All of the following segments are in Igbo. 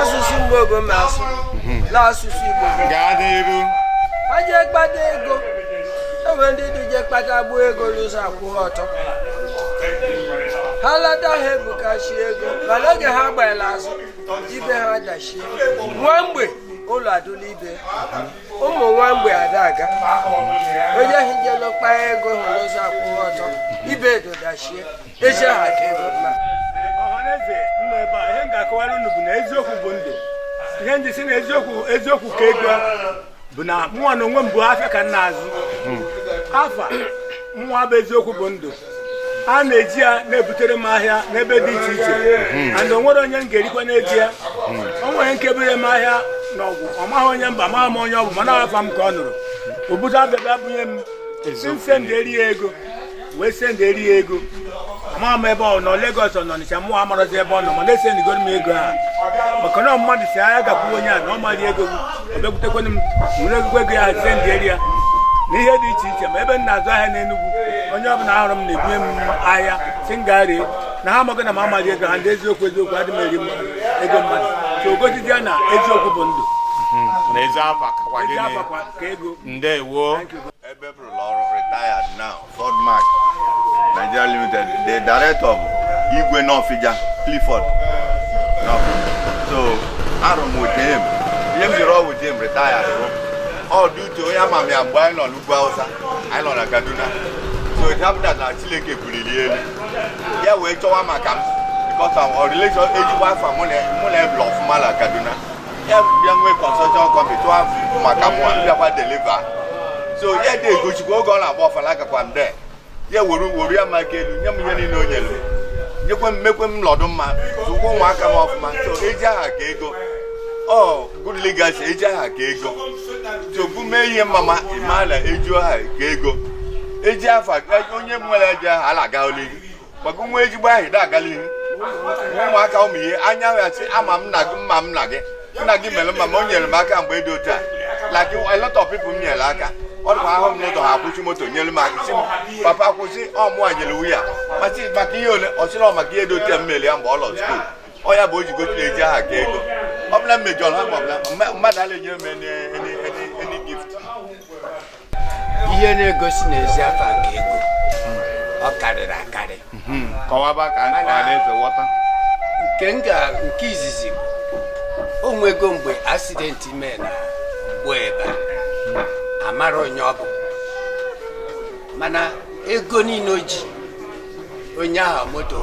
asụsụ Mgbowo ma asụ na asụsụ igbo gaa n'iru ha jee kpata ego enwere ndị dị eje akpata gbuo ego n'ụzọ akwụghị ọtọ ha lata ha ebukachi ego mana oge ha gbanyere azụ ibe ha dachie nwa mgbe ụlọ adụla ibe ụmụ nwa mgbe ada aga onye ahụ jelu kpaa ego hụ n'ụzọ akwụghị ọtọ ibe edodachie ezi aha ka ego mma ọhaneze nọ ebe a ihe m ga-akọwara unu bụ na eziokwu bụ ndụ ihe m ji sị na eziokwu ka ego bụ na mụnwa na onwe m bụ afịa ka m na-azụ afa mụnwa bụ eziokwu bụ ndụ a na-eji ya na-ebutere m ahịa n'ebe dị iche iche and o nwere onye m ga-erikwa n'eji ya o nwere nke bere m ahịa na Ọgwụ ọ maghị onye mba maghị m onye ọ bụ mana afa m ka ọ nụrụ o buru afịa bịa bunye m sị m senderi ya ego wee senderi ya ego ma m ebe ọ nọ Lagos ọ nọ Ọnịcha mụ amarozi ebe ọ nọ mana esendigoro m ego a maka na mmadụ sị ya gakwuo onye a na ọ ma-eri ego ọ bịakwutekwana m were ezigbo ego ya senderi ya na ihe dị iche iche ma ebe m na-azụ ahịa n'Enugwu onye ọbụla ahụrụ m na-ebunye m ahịa sị m gaa ree na ha ama na m ama-eri ego ha ndị eziokwu eziokwu adị m eri ego mmadụ so o gosiri ya na eziokwu bụ ndụ hmm. na ezi afa kakwa gịnị ndewo Igwe Nọfịja Clifford so arụ m with him ihe m jiri rụọ with him retire bụ all due to onye ama m ya mgbe anyị nọ n'ugwu Hausa anyị nọ na Kaduna so it happened that na Chineke buliri elu ya wee chọwa maka m because our relation ezigbo afa mụ na ebe ọfụma na Kaduna ya bịa nwee construction company chọwa maka mụ bịakwa deliver so ya dị egosikwa oge ọ na-agba ọfala agakwa m be ya were were ya m aka elu nye m ihe niile o nyere m nyekwe m mekwe m nọdụ mma zụkwa ụmụaka m ọfụma so ezi aha ka ego ọ good legacy ezi aha ka ego tupu mee ihe mama ịma na ezi aha ka ego ezi afa onye nwere ezi aha ala aga l'ihu maka nwa ezigbo aha ị dị aga l'ihu ụmụaka ụmụ ihe anya ya sị ama m nna gị ama m nna gị nna gị mere mma ma o nyere m aka mgbe dị otu a like a lot of people m nyere aka ọ dịkwa ahụ m n'ụzọ ha akwụsị moto nyere m aka sị m papa kwụsị ọ mụwa nyere wu ya mụ asị maka ihe ole ọ sịrị ọ maka ihe dị otu a m mere ya mgbe ọ lọ skuul ọ ya bụ o ji gosiri ezi aha ka ego ọ bụ la m mejọrọ ha ma ọ bụla mmadụ ala enyere m any any any any gift ihe na-egosi na ezi afa ka ego ọ karịrị akarị hmm. kọwaba ka ọhaneze ghọta nke nga nke izizi o nwego mgbe accident mee na gbuo ebe a mara onye ọ bụ mana ego niile o ji onye ahụ moto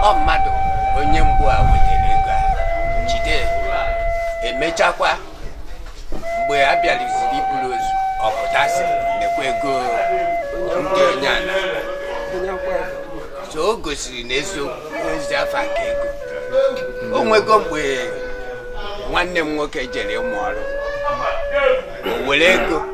ọ mmadụ onye mgbu a wetara ego a jide emechakwa mgbe a bịaliziri iburu ozu ọ pụta sị nekwa ego ndị onye ala so o gosiri na eziokwu ezi afa ka ego o nwego mgbe nwanne m nwoke jere ịmụ ọrụ o were ego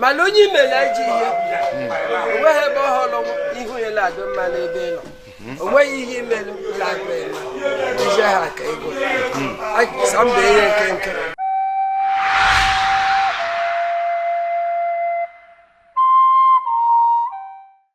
mana onye i mere ajọ ihe o nweghị ebe ọ hụrụ ihu ya na-adị mma n'ebe ị nọ o nweghị ihe i melụ na-adị mma ezi aha ka ego sa mba ihe nke nke